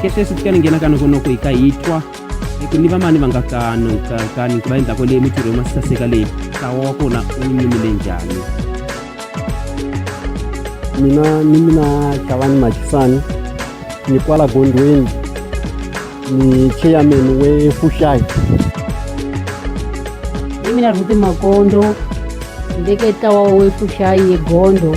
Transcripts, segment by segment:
khetesi ti ka ni nghena ka noko noko hi ka hi twa ku ni vamani va nga kano kani ku va endzhaku leyi mitirho yo masaseka leyi ntlawa wa kona wu nyumile njhani mina ni mina xavani maxisani ni kwala gondweni ni chairman we fuxayi ni mina rhuti makondo ni veke ntlawa we fuxayi egondo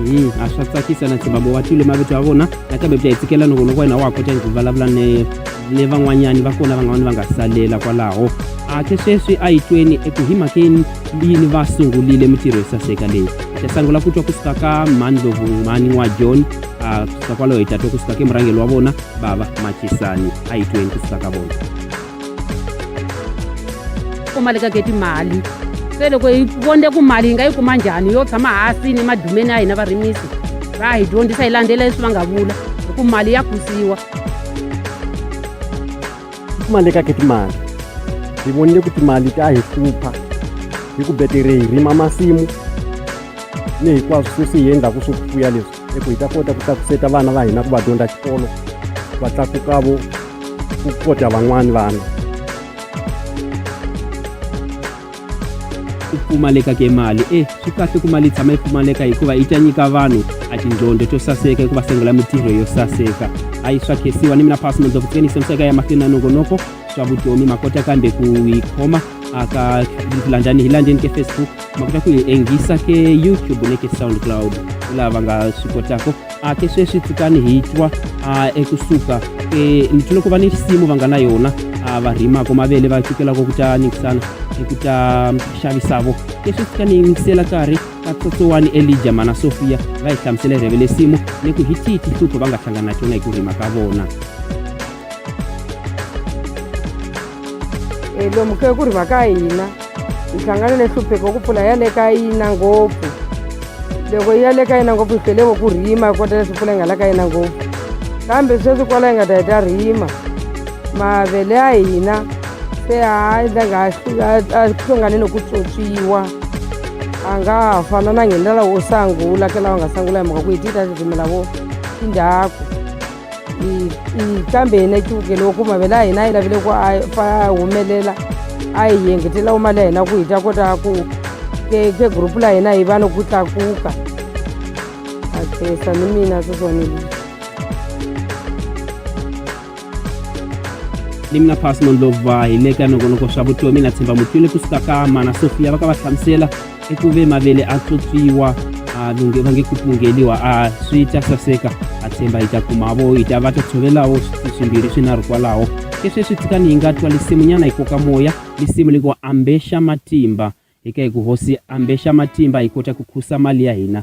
Mm, a swa tsakisa na tshemba mo va twile mavito ya vona nakambe bya hi tsikela loko loko wena wa ha kota ku vulavula ni ni van'wanyani va kona van'wana va nga salela kwalaho ake sweswi a yi tweni eku hi mhakeni yini va sungulile mitirho yo saseka leyi ta sangula ku twa kusuka ka mhani lovumhani wa john a kusuka kwalaho hi ta twa kusuka ke murhangeli wa vona bava matisani a yi tweni kusuka ka vona kuma le ka geti mali se loko hi vonde ku mali hi nga yi kuma njhani yo tshama hasi ni madumeni ya hina varimisi va hi dyondzisa hi landzela leswi va nga vula hi ku mali ya kusiwa kuma le ka geti mali hi vonile ku timali ta hi hlupha hi ku betere hi rima masimu ni hinkwaswo sweswi hi endlaku swo fuya leswi hi ku hi ta kota ku tlakuseta vana va hina ku va dyondza xikolo va tlakukavo ku kota van'wani vana ku pfumaleka ke mali e swi kahle ku mali yi tshama yi pfumaleka hikuva yi ta nyika vanhu a tindzondo to saseka hikuva sengela mitirho yo saseka a yi swa khesiwa ni mina phasi mandzovuteni senseka ya mahlweni na nongonoko swa vutomi ma kota kambe ku yi khoma aka landani hi landeni ke facebook ma kota ku yi enghisa ke youtube ne ke soundcloud laha va nga swi kotaka a ke sweswi pfukani hi twa a ekusuka ke ni tlule ku va ni risimu va nga na yona a va rhimaka mavele va cukelaka ku ta nikisana hi ku ta xavisavo ke sweswi ka ni yingisela karhi ka tsotsowani elija mana sofiya va hi hlamusela hi rheve lesimu ni ku hi tihi tihlupho va nga hlangana na tona hi ku rhima ka vona E, lomu ke ku ri va ka hina hi hlangane ni hlupheko ku pfula ya le ka yina ngopfu loko yi ya le ka yina ngopfu hi felevo ku rima hi kota leswi pfula yi nga la ka yina ngopfu kambe sweswi kwala yi nga ta hi ta rima mavele ya hina se a endla nga a hlongane ni ku tswotswiwa a nga fana na nghendlela wo sangula ke lawa nga sangula hi mhaka ku hi ti ta titimela vo tindhaku hi hi kambe hina xiwukele wa ku mavele a hina a yi lavile ku a fa humelela a hi yengetela mali ya hina ku hi ta kota ku ke ke group la hina hi va ni ku tlakuka a khensa ni mina seswanile ni mina pasmon lova hi le ka nongonoko swa vutomi na tshemba mutwile kusuka ka mana sofia va ka va hlamusela i ku ve mavele a tlotsiwa a lunge va nge ku pungeliwa a swi ta saseka a tshemba hi ta kumavo hi ta va ta tshovelawo swimbirhi swinharhu kwalaho ke sweswi tshikani hi nga twa lisimunyana hi koka moya lisimu li ngo ambexa matimba eka hi ku hosi ambexa matimba hi kota ku khusa mali ya hina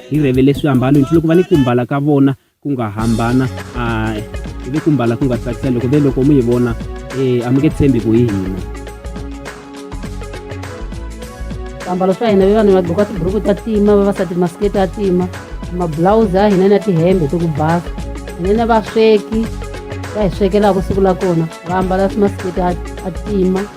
hi revele swiambalo nti loko va ni ku mbala ka vona ku nga hambana a hi ve ku mbala ku nga tsakisa loko ve loko mi hi vona um a mi nge tshembi ku hi hina swiambalo swa hina vevanhu va gqoka tiburuku ta tima vavasati masiketi ya tima mabulawuzi ya hina na tihembe to ku basa hina na vasweki va hi swekelaka siku la kona va ambala masiketi a tima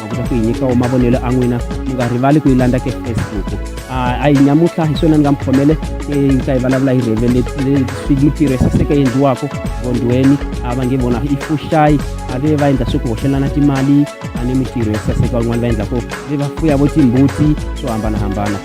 ma kota ku hi nyikawo mavonelo a n'wina mi nga rivali ku yi landza ke facebook a yi nyamutlha hi swona ni nga mi khomele yi ka yi vulavula hi revelemitirho ya saseka endliwaka vondweni a va nge vona i fuxayi a ve va endla swi ku hoxelana timali a ni mitirho ya saseka van'wana va endlaka ve va fuya vo timbuti swo hambanahambana